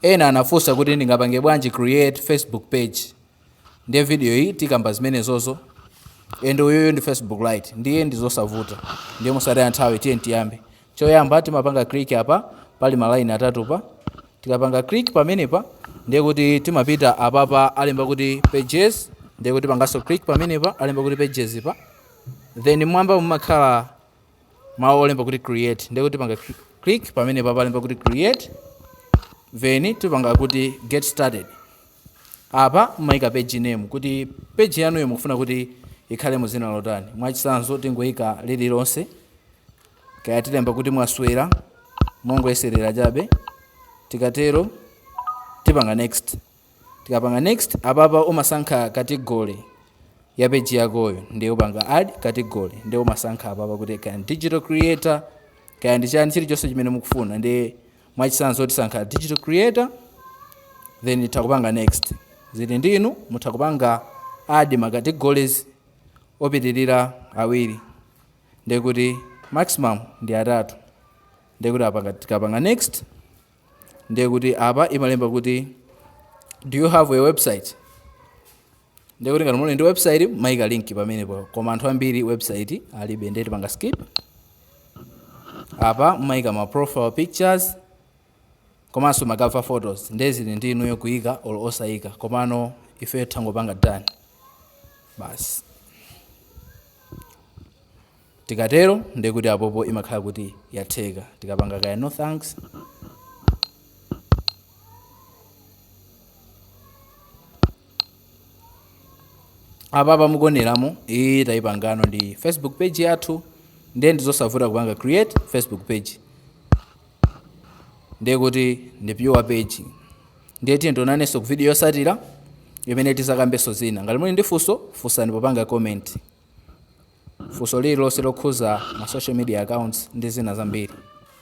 Ena anafusa kuti ndingapange bwanji create Facebook page ndiye video iyi tikamba zimenezozo ende uyoyo ndi Facebook lite ndiye ndizosavuta ndiye mosataya nthawi tiye tiyambe. Choyamba timapanga click apa pali ma line atatu pa tikapanga click pamenepa ndiye kuti timapita apapa alemba kuti pages ndiye kuti tipangaso click pamenepa alemba kuti pages pa then mmwambamu mumakhala mawu olemba kuti create ndiye kuti tipanga click pamenepa palemba kuti create then tipanga kuti get started apa mumayika page name kuti page yanuyo mukufuna kuti ikhale mu dzina lotani mwachisanzo tingoyika lililonse kaya tilemba kuti mwaswera mongoyeserera chabe tikatero tipanga next Tikapanga next apapa umasankha category ya page yakoyo ndiye upanga add category ndiye umasankha apapa kuti kaya ndi digital creator kaya ndi chani chilichonse chimene mukufuna ndiye mwachitsanzo tisankha digital creator then titha kupanga next zili ndi inu mutha kupanga add ma categories opitirira awiri ndiye kuti maximum ndi atatu ndiye kuti apa tikapanga next ndiye kuti apa imalemba kuti do you have a website ndiye kuti ngati muli ndi website mumayika link pamenepo koma anthu ambiri website alibe ndiye tipanga skip apa mumayika ma profile pictures komanso ma cover photos ndiye zili ndi inuyo kuyika or osayika komano ifeyo tingopanga done basi Tikatero ndiye kuti apopo imakhala kuti yatheka. Tikapanga kaya no thanks. Apapa mukuoneramo iyi tayipangano ndi Facebook page yathu ndiye ndizosavuta kupanga create Facebook page ndiye kuti ndi pure page ndiye tiye tionanenso ku video yosatira imene tizakambenso zina ngati muli ndi funso funsani popanga comment funso lililonse lokhuza ma social media accounts ndi zina zambiri.